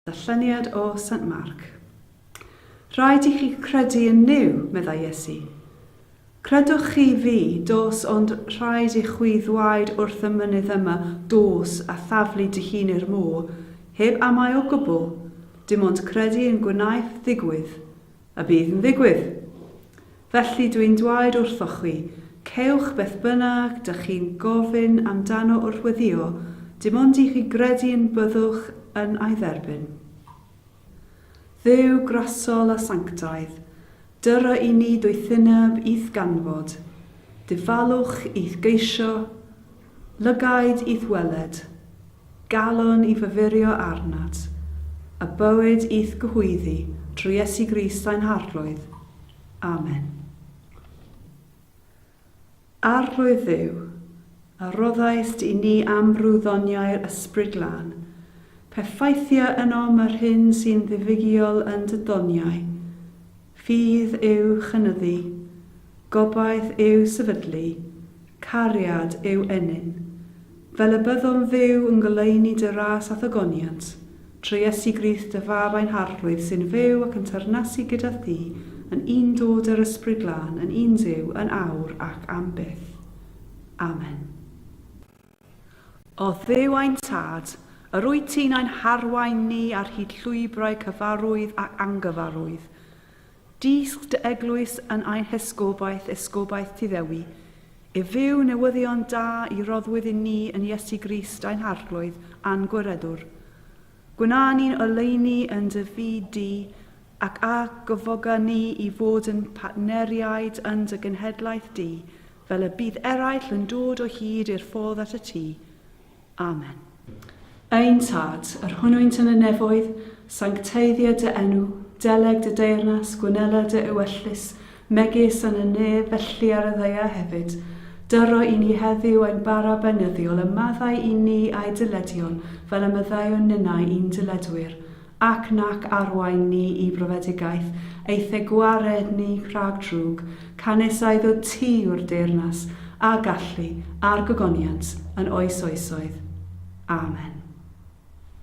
Darlleniad o Saint Mark. Rhaid i chi credu yn Nuw, meddai Iesu. Credwch chi fi, dos ond rhaid i chwi ddwaed wrth y mynydd yma, dos, a thaflu dy hun i'r môr, heb amau o gwbl, dim ond credu yn gwnaeth ddigwydd, a bydd yn ddigwydd. Felly dw i'n dwaed wrthoch chwi, cewch beth bynnag dych chi'n gofyn amdano wrth weddïo, dim ond i chi gredu yn byddwch yn a'i dderbyn. Dduw grasol a sanctaidd, dyra i ni doethineb i'th ganfod, dyfalwch i'th geisio, Lygaid i'th weled, galon i fyfyrio arnat, a bywyd i'th gyhoeddi trwy Iesu Grist ein Harglwydd. Amen. Arglwydd Dduw, a roddaist i ni amrwyddoniau'r Ysbryd Glân, pe ffeithia ynom yr hyn sy'n ddiwygiol yn dy doniau, Ffydd yw chynyddu, gobaith yw sefydlu, cariad yw ennyn. Fel y byddwn fyw yn goleuni dy ras a thogoniant, trwy Iesu Grist dy Fab ein Harglwydd sy'n fyw ac yn teyrnasu gyda thi yn un dod yr Ysbryd Glân yn un Duw yn awr ac am byth. Amen. O Dduw ein Tad, yr wyt ti'n ein harwain ni ar hyd llwybrau cyfarwydd ac angyfarwydd. Dysg dy eglwys yn ein hesgobaeth, esgobaeth ti ddewi, i fyw newyddion da i roddwyd i ni yn Iesu Grist ein Harglwydd a'n Gwiredwr. Gwna ni'n oleuni yn dy fyd di, ac a gyfoga ni i fod yn partneriaid yn dy genhedlaeth di, Fel y bydd eraill yn dod o hyd i'r ffordd at y tŷ. Amen. Ein Tad, yr hwnnwynt yn y nefoedd, sancteiddio dy enw, deleg dy deyrnas, gwnela dy ewyllys, megis yn y nef, felly ar y ddaear hefyd. Dyro i ni heddiw ein bara beunyddiol, a maddau i ni a'i dyledion, fel y maddeuwn ninnau i'n dyledwyr. ac nac arwain ni i brofedigaeth, eithe gwared ni rhag drwg, canys a iddo ti yw'r deyrnas, a gallu, a'r gogoniant, yn oes oesoedd. Amen.